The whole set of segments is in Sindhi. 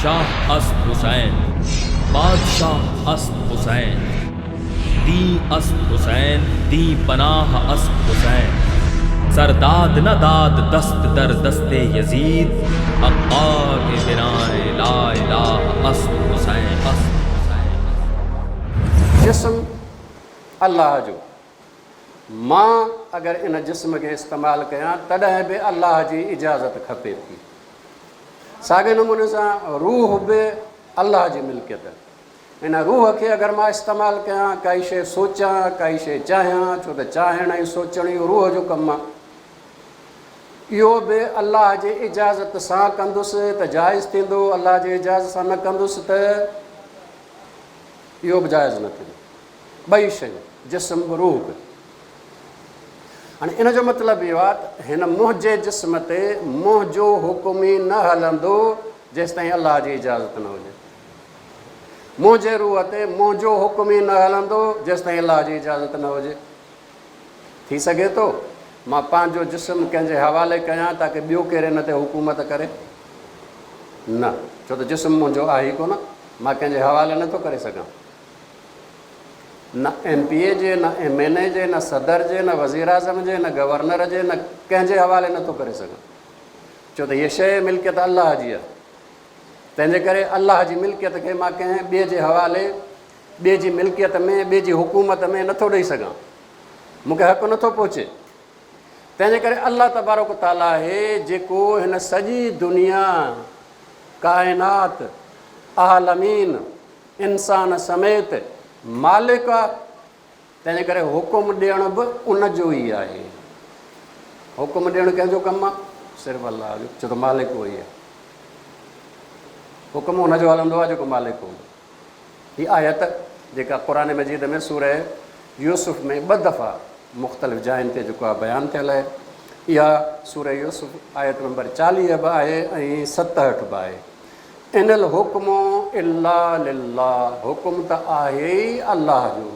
شاھ اسد حسين، بادشاھ اسد حسين، دين اسد حسين، دين پناھ اسد حسين، سر داد نھ داد دست در دست يزيد، حقار اھ بنائے لا اله اسد حسين. جسم الله جو مان اگر ان جسم کي استعمال ڪيان تڏهن به الله جي اجازت کپي ٿي. ساڳئي نموني سان روح به الله جي ملڪيت. ان روح کي اگر مان استعمال ڪيان، ڪائي شيء سوچان، ڪائي شيء چاهيان، ڇو ته چاهڻ ۽ سوچڻ اهو روح جو ڪم آهي. اهو به الله جي اجازت سان ڪندس ته جائز ٿيندو، الله جي اجازت سان نه ڪندس ته اهو به جائز نه ٿيندو. ٻئي شيون، جسم به روح به. هاڻي ان جو مطلب اهو آهي ته هن منهنجي جسم تي منهنجو حڪم ئي نه هلندو جيستائين الله جي اجازت نه هجي. منهنجي روح تي منهنجو حڪم ئي نه هلندو جيستائين الله جي اجازت نه هجي. ٿي سگهي ٿو مان پنهنجو جسم ڪنهن جي حوالي ڪيان تاڪه ٻيو ڪير ان تي حڪومت ڪري؟ نه، ڇو ته جسم منهنجو آهي ئي ڪونه، مان ڪنهن جي حوالي نه ٿو ڪري سگهان. نه ايم پي اي جي، نه ايم اين اي جي، نه صدر جي، نه وزيراعظم جي، نه گورنر جي، نه ڪنهن جي حوالي نه ٿو ڪري سگهان. ڇو ته هيء شيء ملڪيت الله جي آهي. تنهن جي ڪري الله جي ملڪيت کي مان ڪنهن ٻئي جي حوالي، ٻئي جي ملڪيت ۾، ٻئي جي حڪومت ۾ نه ٿو ڏئي سگهان. مون کي حق نه ٿو پهچي. تنهن جي ڪري الله تبارڪ و تعاليٰ آهي جيڪو هن سڄي دنيا، ڪائنات، عالمين، انسان سميت مالڪ آ تنهنجي ڪري حڪم ڏيڻ به ان جو ئي آهي حڪم ڏيڻ ڪنهن جو ڪم آ صرف الله جو ڇو ته مالڪ اهو ئي آ حڪم ان جو هلندو آ جيڪو مالڪ هوندو هي آيت جيڪا قرآن مجيد ۾ سوره يوسف ۾ ٻه دفعا مختلف جاين تي جيڪو آ بيان ٿيل آهي اها سوره يوسف آيت نمبر چاليهه به آهي ۽ ستهٺ به آهي ان الحڪم الا لله حڪم ته آهي ئي الله جو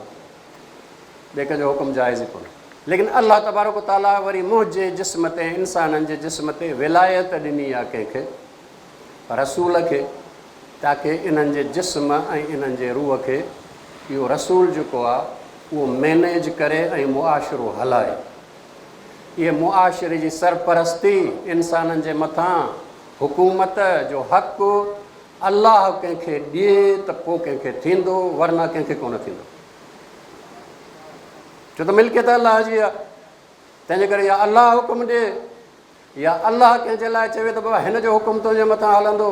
ٻئي ڪنهن جو حڪم جائز ئي ڪونهي ليڪن الله تبارڪ و تعاليٰ وري منهنجي جسم تي انسانن جي جسم تي ولايت ڏني آهي ڪنهن کي رسول کي تاڪه انهن جي جسم ۽ انهن جي روح کي اهو رسول جيڪو آهي اهو مينيج ڪري ۽ معاشرو هلائي اهي معاشري جي سرپرستي، انسانن جي مٿان حڪومت، جو حق الله ڪنهن کي ڏئي ته پوء ڪنهن کي ٿيندو ورنه ڪنهن کي ڪونه ٿيندو. ڇو ته ملڪيت الله جي آهي، تنهنجي ڪري يا الله حڪم ڏئي. يا الله ڪنهن جي لاء چوي ته بابا هن جو حڪم تنهنجي مٿان هلندو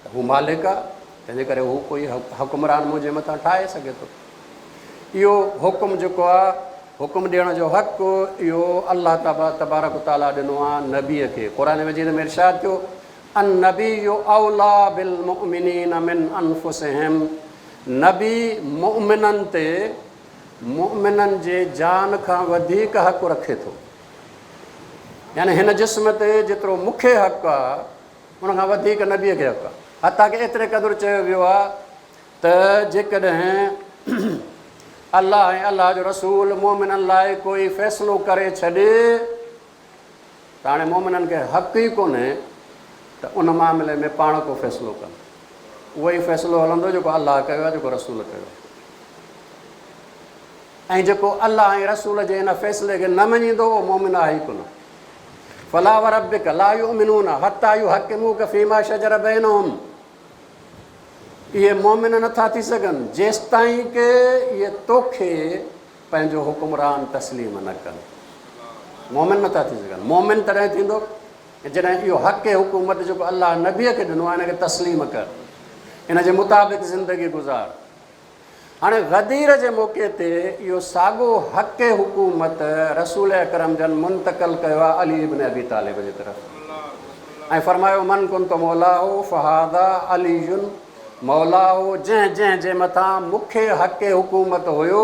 ته هو مالڪ آهي تنهن جي ڪري هو ڪوئي حڪمران منهنجي مٿان ٺاهي سگهي ٿو اهو حڪم جيڪو آهي حڪم ڏيڻ جو حق اهو الله تعالا تبارڪ و تعالا ڏنو آهي نبي کي قرآن مجيد ۾ ارشاد ٿيو ان نبي اولا بالمؤمنين من انفسهم نبي مؤمنن تي مؤمنن جي جان کان وڌيڪ حق رکي ٿو يعني هن جسم تي جيترو مون کي حق آ ان کان وڌيڪ نبيء کي حق آ. حتيٰ ڪه ايتري قدر چيو ويو آ ته جيڪڏهن الله ۽ الله جو رسول مؤمنن لاء ڪوئي فيصلو ڪري ڇڏي ته هاڻي مؤمنن کي حق ئي ڪونهي ته ان معاملي ۾ پاڻ ڪو فيصلو ڪن. اهوئي فيصلو هلندو جيڪو الله ڪيو آ جيڪو رسول ڪيو آ. ۽ جيڪو الله ۽ رسول جي ان فيصلي کي نه مڃيندو اهو مؤمن آهي ئي ڪونه. فلا وربک لا يؤمنون حتي يحڪموک فيما شجر بينهم اهي مؤمن نه ٿا ٿي سگهن جيستائين ڪه اهي توکي پنهنجو حڪمران تسليم نه ڪن. مؤمن نه ٿا ٿي سگهن. مؤمن تڏهن ٿيندو جڏهن اهو حق حڪومت جيڪو الله نبي کي ڏنو آهي ان کي تسليم ڪر ان جي مطابق زندگي گذار هاڻي غدير جي موقعي تي اهو ساڳو حق حڪومت رسول اڪرم جن منتقل ڪيو آهي علي ابن ابي طالب جي طرف ۽ فرمايو من ڪنت مولاه فهذا علي مولاه جنهن جنهن جي مٿان مون کي حق حڪومت هيو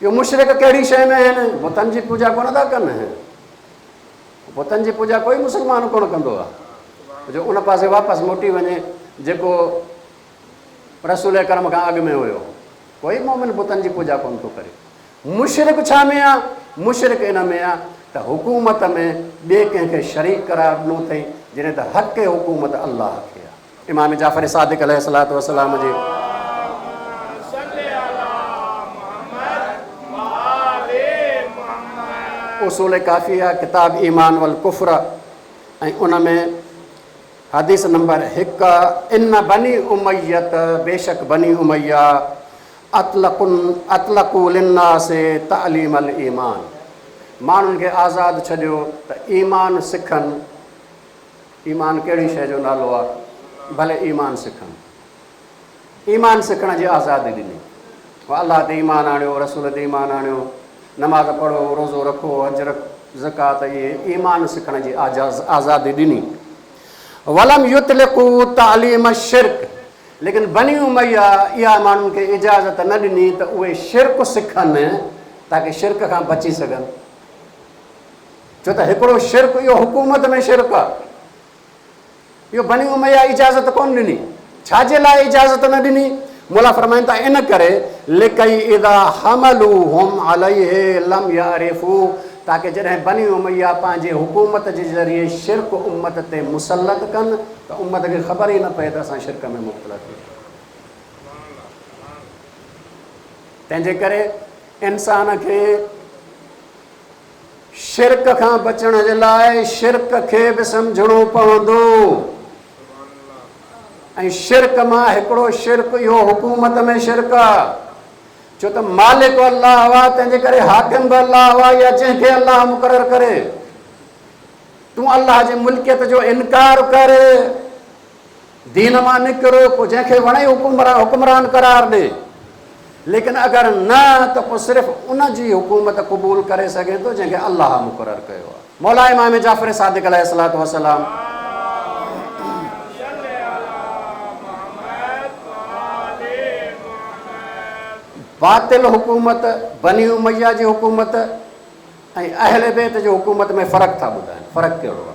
اهي مشرڪ ڪهڙي شيء ۾ آهن؟ بتن جي پوڄا ڪونه ٿا ڪن. بتن جي پوڄا ڪوئي مسلمان ڪونه ڪندو آهي جو ان پاسي واپس موٽي وڃي جيڪو رسول اڪرم کان اڳ ۾ هيو. ڪوئي مومن بتن جي پوڄا ڪونه ٿو ڪري. مشرڪ ڇا ۾ آهي؟ مشرڪ ان ۾ آهي ته حڪومت ۾ ٻئي ڪنهن کي شريڪ قرار ڏنو اٿئي جڏهن ته حق حڪومت الله کي آهي. امام جعفر صادق عليه الصلوة والسلام جي. اصول ڪافيه ڪتاب ايمان والڪفر ۽ ان ۾ حديث نمبر هڪ ان بني اميه بيشڪ بني اميه اطلقن اطلقوا للناس تعليم الايمان ماڻهن کي آزاد ڇڏيو ته ايمان سکن. ايمان ڪهڙي شيء جو نالو آ ڀلي ايمان سکن ايمان سکڻ جي آزادي ڏني هو الله تي ايمان آڻيو رسول تي ايمان آڻيو نماز پڙهو روزو رکو حج رک زڪات اهي ايمان سکڻ جي آزاز آزادي ڏني ولم يطلقو تعليم الشرك ليڪن بني اميه اها ماڻهن کي اجازت نه ڏني ته اهي شرڪ سکن تاڪي شرڪ کان بچي سگهن ڇو ته هڪڙو شرڪ اهو حڪومت ۾ شرڪ آ اهو بني اميه اجازت ڪونه ڏني ڇا جي لاء اجازت نه ڏني مولا فرمائن ٿا ان ڪري لڪي اذا حملوهم عليه لم يعرفو تاڪه جڏهن بني اميه پنهنجي حڪومت جي ذريعي شرڪ امت تي مسلط ڪن ته امت کي خبر ئي نه پئي ته اسان شرڪ ۾ مبتلا ٿي ويا تنهنجي ڪري انسان کي شرڪ کان بچڻ جي لاء شرڪ کي به سمجهڻو پوندو ۽ شرڪ مان هڪڙو شرڪ اهو حڪومت ۾ شرڪ آ ڇو ته مالڪ الله هوا تنهن جي ڪري حاڪم به الله هوا يا جنهن کي الله مقرر ڪري تون الله جي ملڪيت جو انڪار ڪر دين مان نڪر، پوء جنهن کي وڻئي حڪمران حڪمران قرار ڏي، ليڪن اگر نه ته پوء صرف ان جي حڪومت قبول ڪري سگهين ٿو جنهن کي الله مقرر ڪيو آهي. مولا امام جعفر صادق عليه الصلوة والسلام. باطل حڪومت، بني اميه جي حڪومت ۽ اهل بيت جي حڪومت ۾ فرق ٿا ٻڌائين، فرق ڪهڙو آهي؟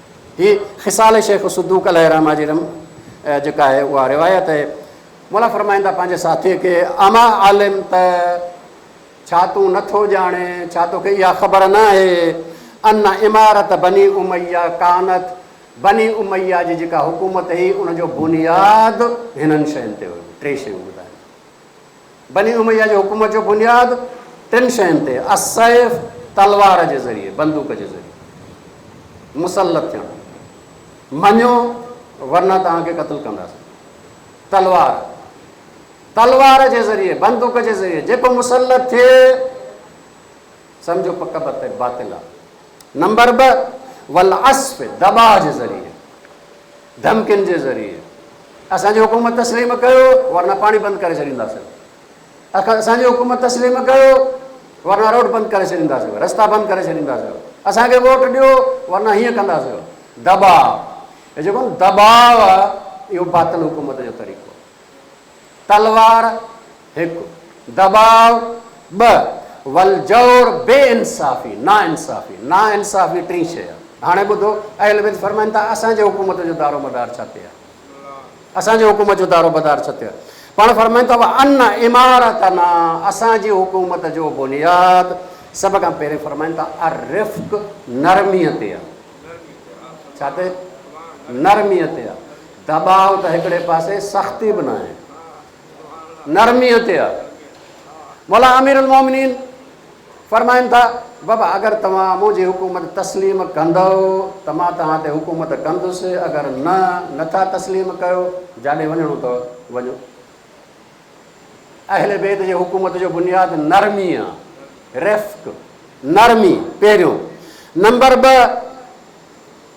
هي خصال شيخ الصدوق عليه الرحمة جي رم جيڪا آهي اها روايت آهي. مولا فرمائن ٿا پنهنجي ساٿيء کي، اما علمت، ڇا تون نه ٿو ڄاڻين، ڇا توکي اها خبر نه آهي، ان امارت بني اميه ڪانت، بني اميه جي جيڪا حڪومت هئي ان جو بنياد هنن شين تي هيو، ٽي شيون ٻڌايائين. بني اميه جي حڪومت جو بنياد ٽن شين تي، السيف، تلوار جي ذريعي، بندوق جي ذريعي، مسلط ٿيڻ، مڃو ورنه توهان کي قتل ڪنداسين، تلوار، تلوار جي ذريعي، بندوق جي ذريعي، جيڪو مسلط ٿئي سمجهو پڪ پت باطل آ، نمبر ٻه، والعصف، دٻاء جي ذريعي، ڌمڪين جي ذريعي اسان جي حڪومت تسليم ڪيو ورنه پاڻي بند ڪري ڇڏينداسين، اسان جي حڪومت تسليم ڪيو ورنه روڊ بند ڪري ڇڏينداسين، رستا بند ڪري ڇڏينداسين، اسان کي ووٽ ڏيو ورنه هيئن ڪنداسين، دٻاء، هي جيڪو دٻاء آهي اهو باطل حڪومت جو طريقو آهي. تلوار، هڪ، دٻاء، ٻه، والجور، بي انصافي، ناانصافي، ناانصافي ٽين شيء آهي. هاڻي ٻڌو، اهل بيت فرمائن ٿا، اسان جي حڪومت جو دارو مدار ڇا تي آهي؟ اسان جي حڪومت جو دارو مدار ڇا تي آهي؟ پاڻ فرمائن ٿا، وان عمارتنا، اسان جي حڪومت جو بنياد، سڀ کان پهرين فرمائن ٿا، الرفق، نرميء تي آهي. ڇا تي؟ نرميء تي آهي. دٻاء ته هڪڙي پاسي سختي به ناهي نرميء تي آ. مولا امير المومنين فرمائن ٿا بابا اگر توهان منهنجي حڪومت تسليم ڪندؤ ته مان توهان تي حڪومت ڪندس اگر نه نه ٿا تسليم ڪيو جاڏي وڃڻو اٿو وڃو. اهل بيت جي حڪومت جو بنياد نرمي آ، رفق، نرمي پهريون نمبر ٻه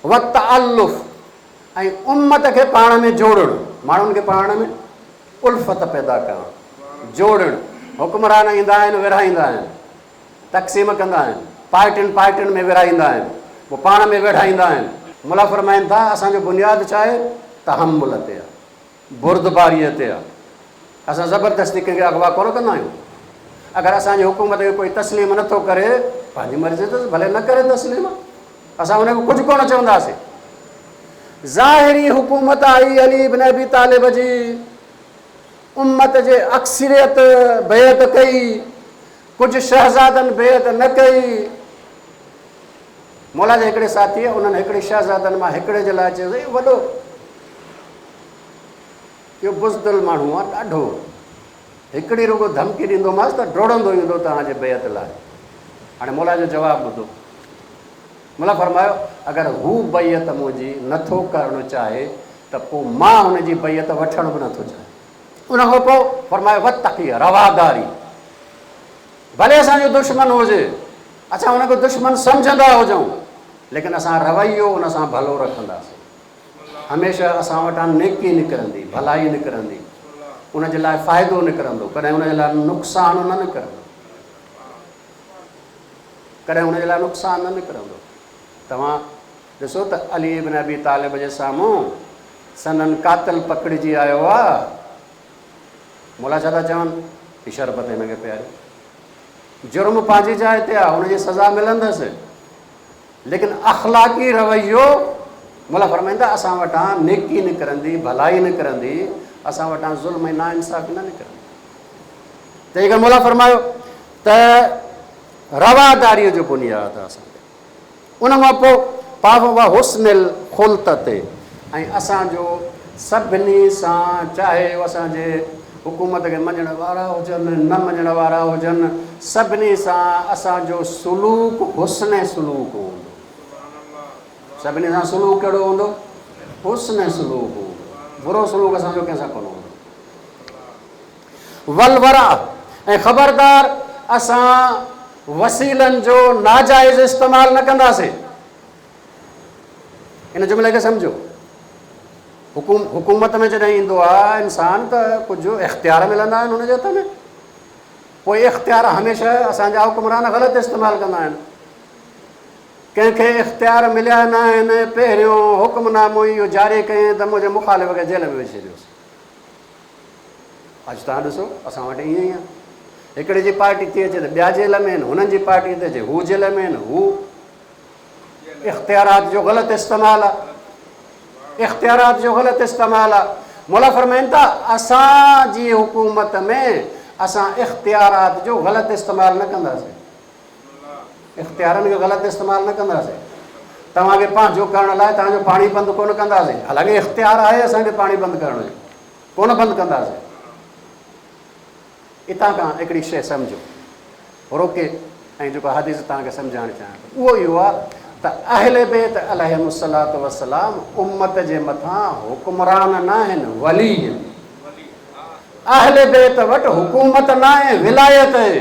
وتعلف، ۽ امت کي پاڻ ۾ جوڙڻ، ماڻهن کي پاڻ ۾ الفت پيدا ڪرڻ، جوڙڻ، حڪمران ايندا آهن ورهائيندا آهن، تقسيم ڪندا آهن، پارٽين پارٽين ۾ ورهائيندا آهن، پوء پاڻ ۾ ويڙهائيندا آهن. مولا فرمائن ٿا، اسان جو بنياد ڇا آهي؟ تحمل تي آهي. بردباري تي آ. اسان زبردستي ڪنهن کي اغوا ڪونه ڪندا آهيون. اگر اسان جي حڪومت کي ڪوئي تسليم نه ٿو ڪري، پنهنجي مرضي تس ڀلي نه ڪري تسليم، اسان ان کي ڪجهه ڪونه چونداسين. ظاهري حڪومت آهي علي بن ابي طالب جي، امت جي اڪثريت بيعت ڪئي، ڪجهه شهزادن بيعت نه ڪئي. مولا جي هڪڙي ساٿيء انهن هڪڙي شهزادن مان هڪڙي جي لاء چيو ته اهو وڏو اهو بزدل ماڻهو آ ڏاڍو هڪڙي رڳو ڌمڪي ڏيندوماس ته ڊوڙندو ايندو توهان جي بيعت لاء هاڻي مولا جو جواب ٻڌو مولا فرمايو اگر هو بيعت منهنجي نٿو ڪرڻ چاهي ته پو مان هن جي بيعت وٺڻ به نٿو چاهي ان کان پو فرمايو وتقي رواداري ڀلي اسان جو دشمن هجي اسان ان کي دشمن سمجهندا هجون ليڪن اسان رويو ان سان ڀلو رکنداسين. هميشه اسان وٽان نيڪي نڪرندي، ڀلائي نڪرندي، ان جي لاء فائدو نڪرندو، ڪڏهن ان جي لاء نقصان نه نڪرندو. ڪڏهن ان جي لاء نقصان نه نڪرندو. توهان ڏسو ته علي ابن ابي طالب جي سامهون سندن قاتل پڪڙجي آيو آ. مولا ڇا ٿا چون؟ هي شربت هن کي پياريو. جرم پنهنجي جاء تي آهي ان جي سزا ملندس ليڪن اخلاقي رويو مولا فرمائيندا اسان وٽان نيڪي نڪرندي ڀلائي نڪرندي اسان وٽان ظلم ۽ ناانصافي نه نڪرندي تنهن کان مولا فرمايو ته رواداري جو بنياد اسان ان مان پوء پاء و حسن الخلط تي ۽ اسان جو سڀني سان چاهي هو اسان جي حڪومت کي مڃڻ وارا هجن نه مڃڻ وارا هجن سڀني سان اسان جو سلوڪ حسن سلوڪ هوندو. سڀني سان سلوڪ ڪهڙو هوندو؟ حسن سلوڪ هوندو. برو سلوڪ اسان جو ڪنهن سان ڪونه هوندو. ولوره ۽ خبردار اسان وسيلن جو ناجائز استعمال نه ڪنداسين. ان جملي کي سمجهو. حڪوم حڪومت ۾ جڏهن ايندو آ انسان ته ڪجهه اختيار ملندا آهن هن جي هٿ ۾ پوء اختيار هميشه اسان جا حڪمران غلط استعمال ڪندا آهن. ڪنهن کي اختيار مليا ناهن پهريون حڪم نامو ئي اهو جاري ڪئين ته منهنجي مخالف کي جيل ۾ وجهي ڇڏيوس. اڄ توهان ڏسو اسان وٽ ائين ئي آ هڪڙي جي پارٽي ٿي اچي ته ٻيا جيل ۾ آهن هنن جي پارٽي ٿي اچي هو جيل ۾ آهن هو اختيارات جو غلط استعمال آ اختيارات جو غلط استعمال آ مولا فرمائن ٿا اسان جي حڪومت ۾ اسان اختيارات جو غلط استعمال نه ڪنداسين اختيارن جو غلط استعمال نه ڪنداسين توهان کي پنهنجو ڪرڻ لاء توهان جو پاڻي بند ڪونه ڪنداسين حالانڪه اختيار آهي اسان کي پاڻي بند ڪرڻ جو ڪونه بند ڪنداسين اتان کان هڪڙي شيء سمجھو روڪي ۽ جيڪو حديث توهان کي سمجھائڻ چاهيان ٿو اهو اهو آهي ته اهل بيت عليهم الصلاة والسلام امت جي مٿان حڪمران نه آهن ولي آهن اهل بيت وٽ حڪومت نه آهي ولایت آهي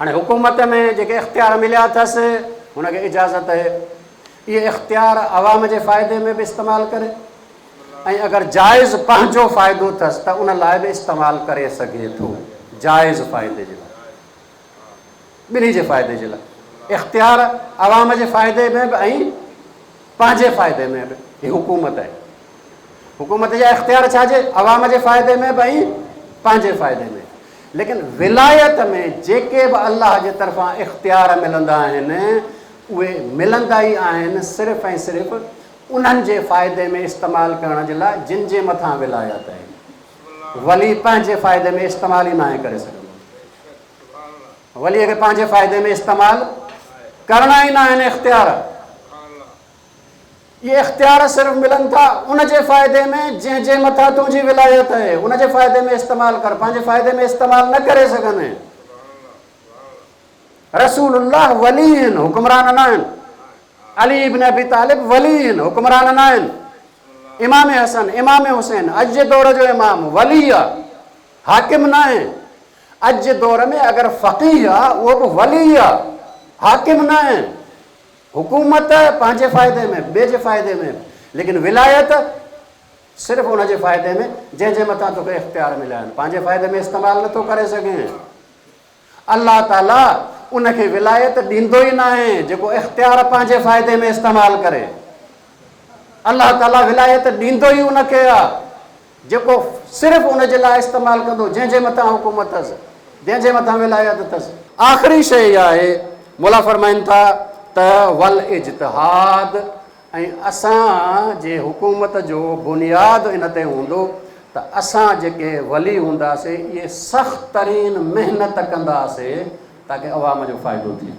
هاڻي حڪومت ۾ جيڪي اختيار مليا اٿس هن کي اجازت اهي اهي اختيار عوام جي فائدي ۾ به استعمال ڪري ۽ اگر جائز پنهنجو فائدو اٿس ته ان لاء به استعمال ڪري سگهي ٿو جائز فائدي جي لاء ٻنهي جي فائدي جي لاء اختيار عوام جي فائدي ۾ به ۽ پنهنجي فائدي ۾ به هي حڪومت آهي. حڪومت جا اختيار ڇا جي عوام جي فائدي ۾ به ۽ پنهنجي فائدي ۾ ليڪن ولايت ۾ جيڪي به الله جي طرفان اختيار ملندا آهن اهي ملندا ئي آهن صرف ۽ صرف انهن جي فائدي ۾ استعمال ڪرڻ جي لاء جن جي مٿان ولايت آهي. ولي پنهنجي فائدي ۾ استعمال ئي ناهي ڪري سگهندو. وليء کي پنهنجي فائدي ۾ استعمال ڪرڻا ئي نه آهن اختيار. اهي اختيار صرف ملن ٿا ان جي فائدي ۾ جنهن جي مٿان تنهنجي ولايت آهي. ان جي فائدي ۾ استعمال ڪر. پنهنجي فائدي ۾ استعمال نه ڪري سگهندين. رسول الله ولي هن، حڪمران نه آهن. علي ابن ابي طالب ولي هن، حڪمران نه آهن. امام حسن، امام حسين اڄ جي دور جو امام، ولي آ، حاڪم ناهي. اڄ جي دور ۾ اگر فقيه آ اهو به ولي آ حاڪم ناهي حڪومت پنهنجي فائدي ۾ ٻئي جي فائدي ۾ ليڪن ولايت صرف ان جي فائدي ۾ جنهن جي مٿان توکي اختيار مليا آهن پنهنجي فائدي ۾ استعمال نٿو ڪري سگهين الله تعالي ان کي ولايت ڏيندو ئي ناهي جيڪو اختيار پنهنجي فائدي ۾ استعمال ڪري الله تعالي ولايت ڏيندو ئي ان کي آ جيڪو صرف ان جي لاء استعمال ڪندو جنهن جي مٿان حڪومت اٿس، جنهن جي مٿان ولايت اٿس. آخري شيء اها آهي، مولا فرمائن ٿا ته والاجتهاد ۽ اسان جي حڪومت جو بنياد ان تي هوندو ته اسان جيڪي ولي هونداسي اهي سخت ترين محنت ڪنداسي تاڪه عوام جو فائدو ٿئي.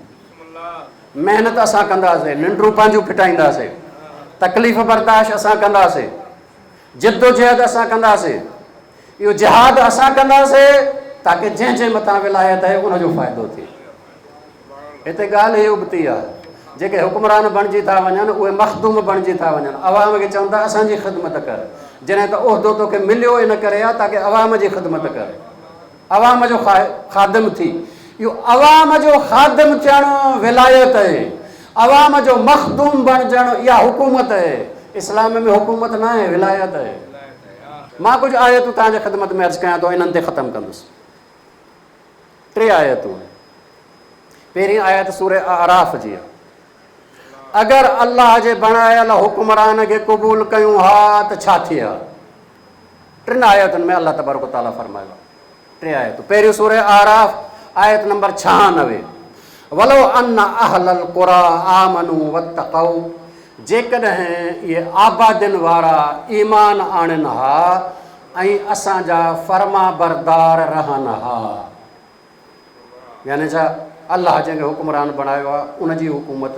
محنت اسان ڪنداسي، ننڊون پنهنجون ڦٽائينداسي، تڪليف برداشت اسان ڪنداسي. جدوجهد اسان ڪنداسين، اهو جهاد اسان ڪنداسين تاڪه جنهن جي مٿان ولايت آهي ان جو فائدو ٿئي. هتي ڳالهه هي ابتي آهي جيڪي حڪمران بڻجي ٿا وڃن اهي مخدوم بڻجي ٿا وڃن، عوام کي چون ٿا اسان جي خدمت ڪر، جڏهن ته عهدو توکي مليو ان ڪري آهي تاڪه عوام جي خدمت ڪر. عوام جو خادم ٿي. اهو عوام جو خادم ٿيڻ ولايت اهي. عوام جو مخدوم بڻجڻ اها حڪومت اهي. اسلام ۾ حڪومت نه اهي ولايت اهي. مان ڪجهه آيتون توهان جي خدمت ۾ عرض ڪيان ٿو انهن تي ختم ڪندس. ٽي آيتون. پهرين آيت سوره اعراف جي آهي. اگر الله جي بڻايل حڪمران کي قبول ڪيون ها ته ڇا ٿئي ها؟ ٽن آيتن ۾ الله تبارڪ و تعالي فرمايو آهي، ٽي آيتون، پهريون سورة اعراف آيت نمبر ڇهانوي، ولو ان اهل القري آمنو واتقو جيڪڏهن اهي آبادين وارا ايمان آڻين ها ۽ اسان جا فرمانبردار رهن ها يعني ڇا الله جنهن کي حڪمران بڻايو آهي ان جي حڪومت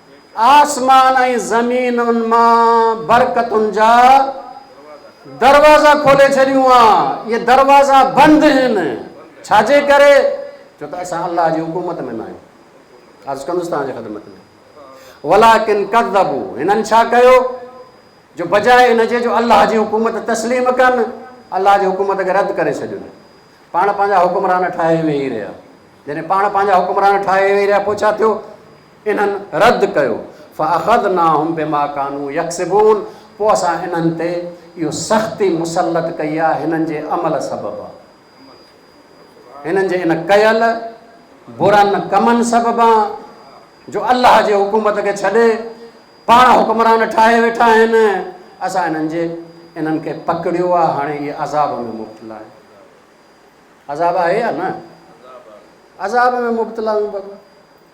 آسمان ۽ زمينن مان برڪتن جا دروازا کولي ڇڏيون ها، اهي دروازا بند هن، ڇا جي ڪري؟ ڇو ته اسان الله جي حڪومت ۾ نه آهيون، عرض ڪندس توهان جي خدمت ۾، ولٰڪن ڪذبو، هنن ڇا ڪيو جو بجاء ان جي جو الله جي حڪومت تسليم ڪن، الله جي حڪومت کي رد ڪري ڇڏين، پاڻ پنهنجا حڪمران ٺاهي ويهي رهيا، جڏهن پاڻ پنهنجا حڪمران ٺاهي ويهي رهيا پوء ڇا ٿيو؟ انهن رد ڪيو، فاخذناهم بما ڪانو يڪسبون، پوء اسان انهن تي اهو سختي مسلط ڪئي آهي هنن جي عمل سبب، هنن جي ان ڪيل برن ڪمن سببان جو الله جي حڪومت کي ڇڏي پاڻ حڪمران ٺاهي ويٺا آهن، اسان انهن جي انهن کي پڪڙيو آهي هاڻي اهي عذاب ۾ مبتلا آهن. عذاب آهي يا نه؟ عذاب ۾ مبتلا آهيون بابا.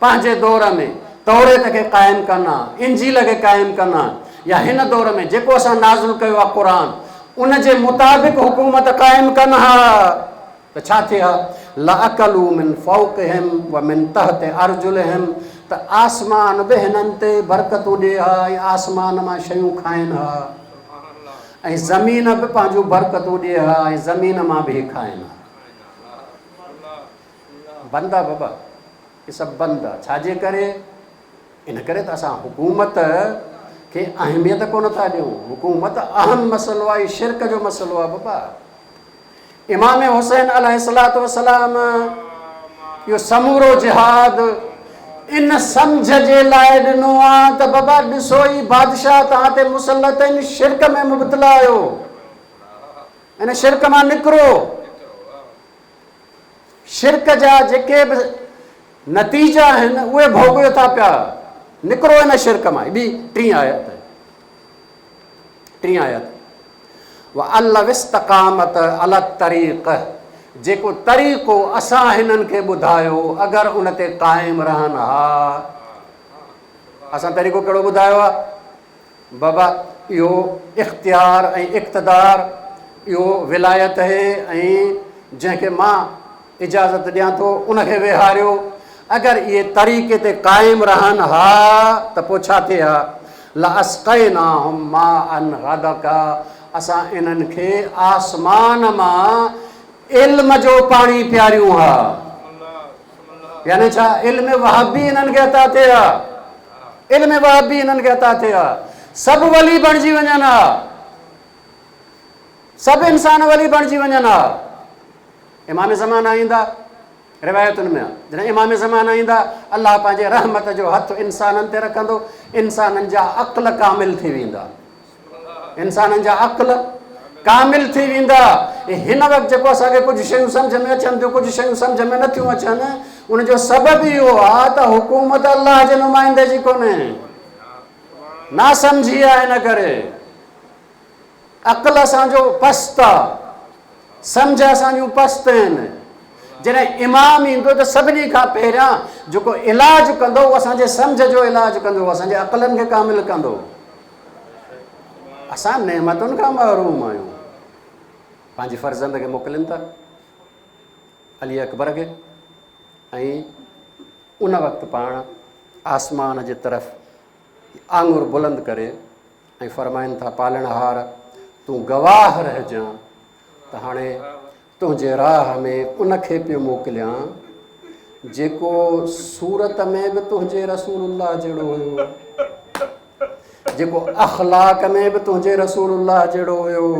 پنهنجي دور ۾ توريت کي قائم ڪن ها، انجيل کي قائم ڪن ها يا هن دور ۾ جيڪو اسان نازل ڪيو آهي قرآن ان جي مطابق حڪومت قائم ڪن ها ته ڇا ٿئي ها لاڪلوا من فوقهم ومن تحت ارجلهم ته آسمان به هنن تي برڪتون ڏئي ها ۽ آسمان مان شيون کائين ها ۽ زمين به پنهنجون برڪتون ڏئي ها ۽ زمين مان به هي کائين ها. بند ا ببا هي سڀ بند آ ڇاجي ڪري ان ڪري ته اسان حڪومت کي اهميت ڪونه ٿا ڏيون حڪومت اهم مسئلو آ هي شرڪ جو مسئلو آ ببا امام حسين عليه الصلاه والسلام يو سمورو جهاد ان سمجھ جي لاء ڏنو آ ته بابا ڏسو هي بادشاهه توهان تي مسلط ان شرڪ ۾ مبتلا آهيو ان شرڪ مان نڪرو شرڪ جا جيڪي به نتيجا آهن اهي ڀوڳيو ٿا پيا نڪرو ان شرڪ مان ٻي ٽين آيت ٽين آيت والله استقامت على الطريق جيڪو طريقو اسان هنن کي ٻڌايو اگر ان تي قائم رهن ها اسان طريقو کهڙو ٻڌايو آهي بابا اهو اختيار ۽ اقتدار، اهو ولايت اهي ۽ جنهن کي مان اجازت ڏيان ٿو ان کي ويهاريو. اگر اهي طريقي تي قائم رهن ها ته پوء ڇا ٿئي ها؟ لاسقيناهم ماء غدقا اسان انهن کي آسمان مان علم جو پاڻي پياريون ها. يعني ڇا علم وهب به انهن کي عطا ٿئي ها؟ علم وهب به انهن کي عطا ٿئي ها. سڀ ولي بڻجي وڃن ها. سڀ انسان ولي بڻجي وڃن ها. امام زمان آئيندا روايتن ۾ جڏهن امام زمان آئيندا الله پنهنجي رحمت جو هٿ انسانن تي رکندو انسانن جا عقل ڪامل ٿي ويندا انسانن جا عقل ڪامل ٿي ويندا ۽ هن وقت جيڪو اسان کي ڪجهه شيون سمجھ ۾ اچن ٿيون ڪجهه شيون سمجھ ۾ نه ٿيون اچن ان جو سبب اهو آهي ته حڪومت الله جي نمائندي جي ڪونهي نا سمجھي آهي ان ڪري عقل اسان جو پست آهي سمجھ اسان جون پست آهن جڏهن امام ايندو ته سڀني کان پهريان جيڪو علاج ڪندو اهو اسان جي سمجھ جو علاج ڪندو اسان جي عقلن کي ڪامل ڪندو اسان نعمتن کان محروم آهيون پنهنجي فرزند کي موڪلين ٿا علي اڪبر کي ۽ ان وقت پاڻ آسمان جي طرف آنگر بلند ڪري ۽ فرمائن ٿا پالڻ هار تون گواهه رهجان ته هاڻي تنهنجي راهه ۾ ان کي پيو موڪليان جيڪو صورت ۾ به تنهنجي رسول الله جهڙو هيو جيڪو اخلاق ۾ به تنهنجي رسول الله جهڙو هيو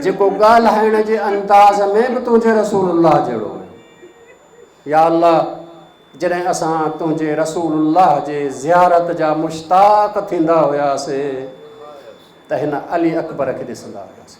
جيڪو ڳالهائڻ جي انداز ۾ به تنهنجي رسول الله جهڙو هيو يا الله جڏهن اسان تنهنجي رسول الله جي زيارت جا مشتاق ٿيندا هياسي ته هن علي اڪبر کي ڏسندا هياسي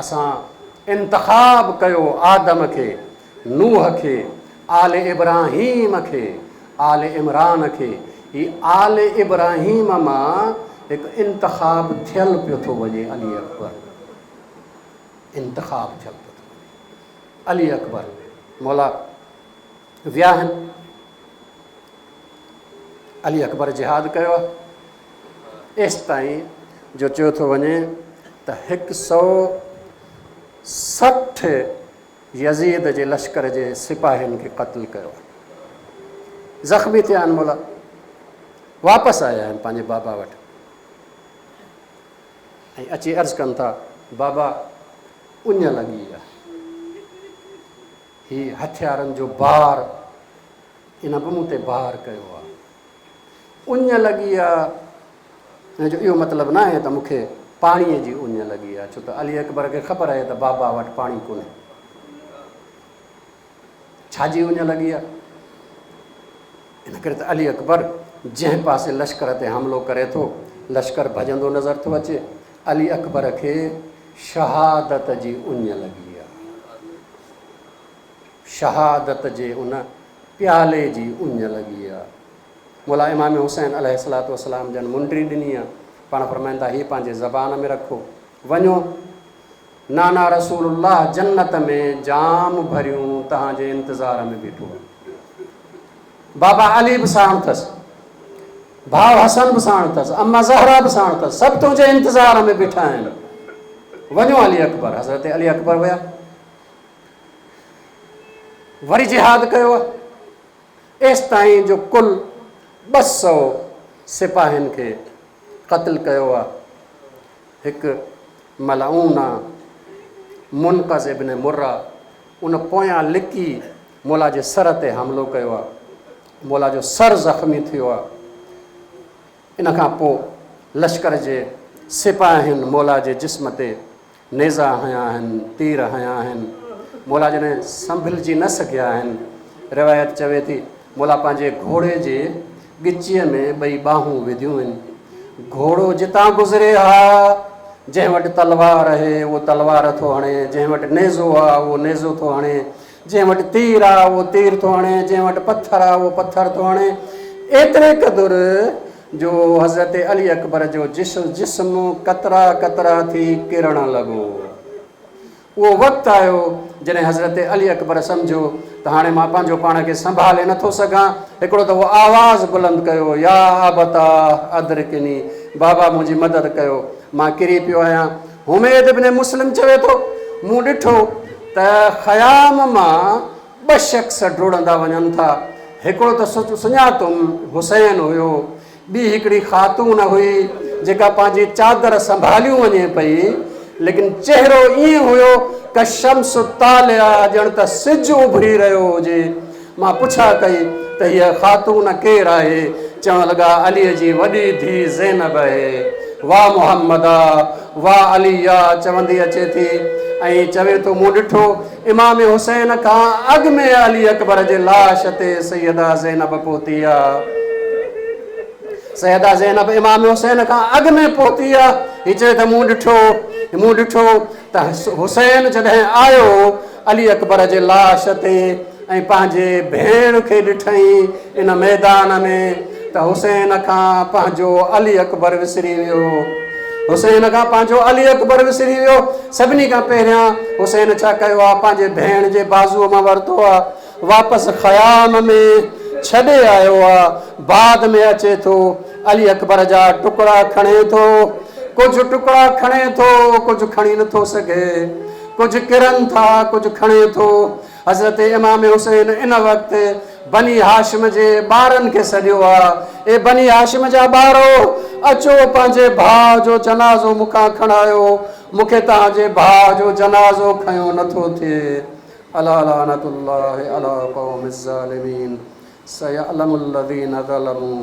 اسان انتخاب ڪيو آدم کي، نوح کي، آل ابراهيم کي، آل عمران کي. هي آل ابراهيم مان هڪ انتخاب ٿيل پيو ٿو وڃي علي اڪبر انتخاب ٿيل پيو ٿو وڃي علي اڪبر مولا وياهن علي اڪبر جهاد ڪيو آهي ايستائين جو چيو ٿو وڃي ته هڪ سؤ سٺ يزيد جي لشڪر جي سپاهين کي قتل ڪيو آهي زخمي ٿيا آهن مولا واپس آيا آهن پنهنجي بابا وٽ ۽ اچي عرض ڪن ٿا بابا اڃ لڳي آهي هي هٿيارن جو بار ان به مون تي بار ڪيو آ. اڃ لڳي آ ان جو اهو مطلب ناهي ته مون کي پاڻيء جي اڃ لڳي آ، ڇو ته علي اڪبر کي خبر آهي ته بابا وٽ پاڻي ڪونهي. ڇا جي اڃ لڳي آ؟ ان ڪري ته علي اڪبر جنهن پاسي لشڪر تي حملو ڪري ٿو، لشڪر ڀڄندو نظر ٿو اچي. علي اڪبر کي شهادت جي اڃ لڳي آ. شهادت جي ان پيالي جي اڃ لڳي آ. مولا امام حسين عليه الصلوة والسلام جن منڊري ڏني آ. پاڻ فرمائن ٿا، هي پنهنجي زبان ۾ رکو. وڃو! نانا رسول الله جنت ۾ جام ڀريون تهان جي انتظار ۾ بيٺو آهي. بابا علي به ساڻ اٿس. ڀاء حسن به ساڻ اٿس. اما زهرا به ساڻ اٿس. سڀ تنهنجي انتظار ۾ بيٺا آهن. وڃو علي اڪبر. حضرت علي اڪبر ويا. وري جهاد ڪيو آهي. ايستائين جو ڪل ٻه سؤ سپاهين کي قتل ڪيو آهي. هڪ ملعون آ. منقذ ابن مره ان پويان لڪي مولا جي سر تي حملو ڪيو آ. مولا جو سر زخمي ٿيو آ. ان کان پوء لشڪر جي سپاهين مولا جي جسم تي نيزا هنيا آهن، تير هنيا آهن. مولا جڏهن سنڀلجي نه سگهيا آهن. روايت چوي ٿي، مولا پنهنجي گهوڙي جي ڳچيء ۾ ٻئي ٻانهون وڌيون هن. گهوڙو جتان گذري ها، جنهن وٽ تلوار اهي، اهو تلوار ٿو هڻي، جنهن وٽ نيزو آ، اهو نيزو ٿو هڻي، جنهن وٽ تير آ، اهو تير ٿو هڻي، جنهن وٽ پٿر آ، اهو پٿر ٿو هڻي. ايتري قدر جو حضرت علي اڪبر جو جسم قطرا قطرا ٿي ڪرڻ لڳو. اهو وقت آيو جڏهن حضرت علي اڪبر سمجهيو ته هاڻي مان پنهنجو پاڻ کي سنڀالي نه ٿو سگهان. هڪڙو دفعو آواز بلند ڪيو، يا ابتاه ادرڪني، بابا منهنجي مدد ڪيو، مان ڪري پيو آهيان. حميد ابن مسلم چوي ٿو، مون ڏٺو ته خيام مان ٻه شخص ڊوڙندا وڃن ٿا. هڪڙو ته سڃاتم حسين هيو. ٻي هڪڙي خاتون هئي جيڪا پنهنجي چادر سنڀاليون وڃي پئي ليڪن چهرو ائين هيو ڪه شمس طالعه ڄڻ ته سج اڀري رهيو هجي. مان پڇا ڪئي ته هيء خاتون ڪير آهي؟ چوڻ لڳا عليء جي وڏي ڌيء زينب اهي. وا محمدا! وا عليا! چوندي اچي ٿي ۽ چوي ٿو مون ڏٺو امام حسين کان اڳ ۾ علي اڪبر جي لاش تي سيده زينب پهتي آ. سيده زينب امام حسين کان اڳ ۾ پهتي آ. هي چوي ته مون ڏٺو مون ڏٺو ته حسين جڏهن آيو علي اڪبر جي لاش تي ۽ پنهنجي ڀيڻ کي ڏٺائين ان ميدان ۾ ته حسين کان پنهنجو علي اڪبر وسري ويو. حسين کان پنهنجو علي اڪبر وسري ويو. سڀني کان پهريان حسين ڇا ڪيو آ؟ پنهنجي ڀيڻ جي بازوء مان ورتو آ. واپس خيام ۾ ڇڏي آيو آ. بعد ۾ اچي ٿو علي اڪبر جا ٽڪڙا کڻي ٿو. ڪجهه ٽڪڙا کڻي ٿو، ڪجهه کڻي نٿو سگهي. ڪجهه ڪرن ٿا، ڪجهه کڻي ٿو. حضرت امام حسين ان وقت بني هاشم جي ٻارن کي سڏيو ها، اي بني هاشم جا ٻارو! اچو پنهنجي ڀاء جو جنازو مون کان کڻايو، مون کي توهان جي ڀاء جو جنازو کنيو نه ٿو ٿئي. الا لعنت الله علي قوم الظالمين سيعلم الذين ظلموا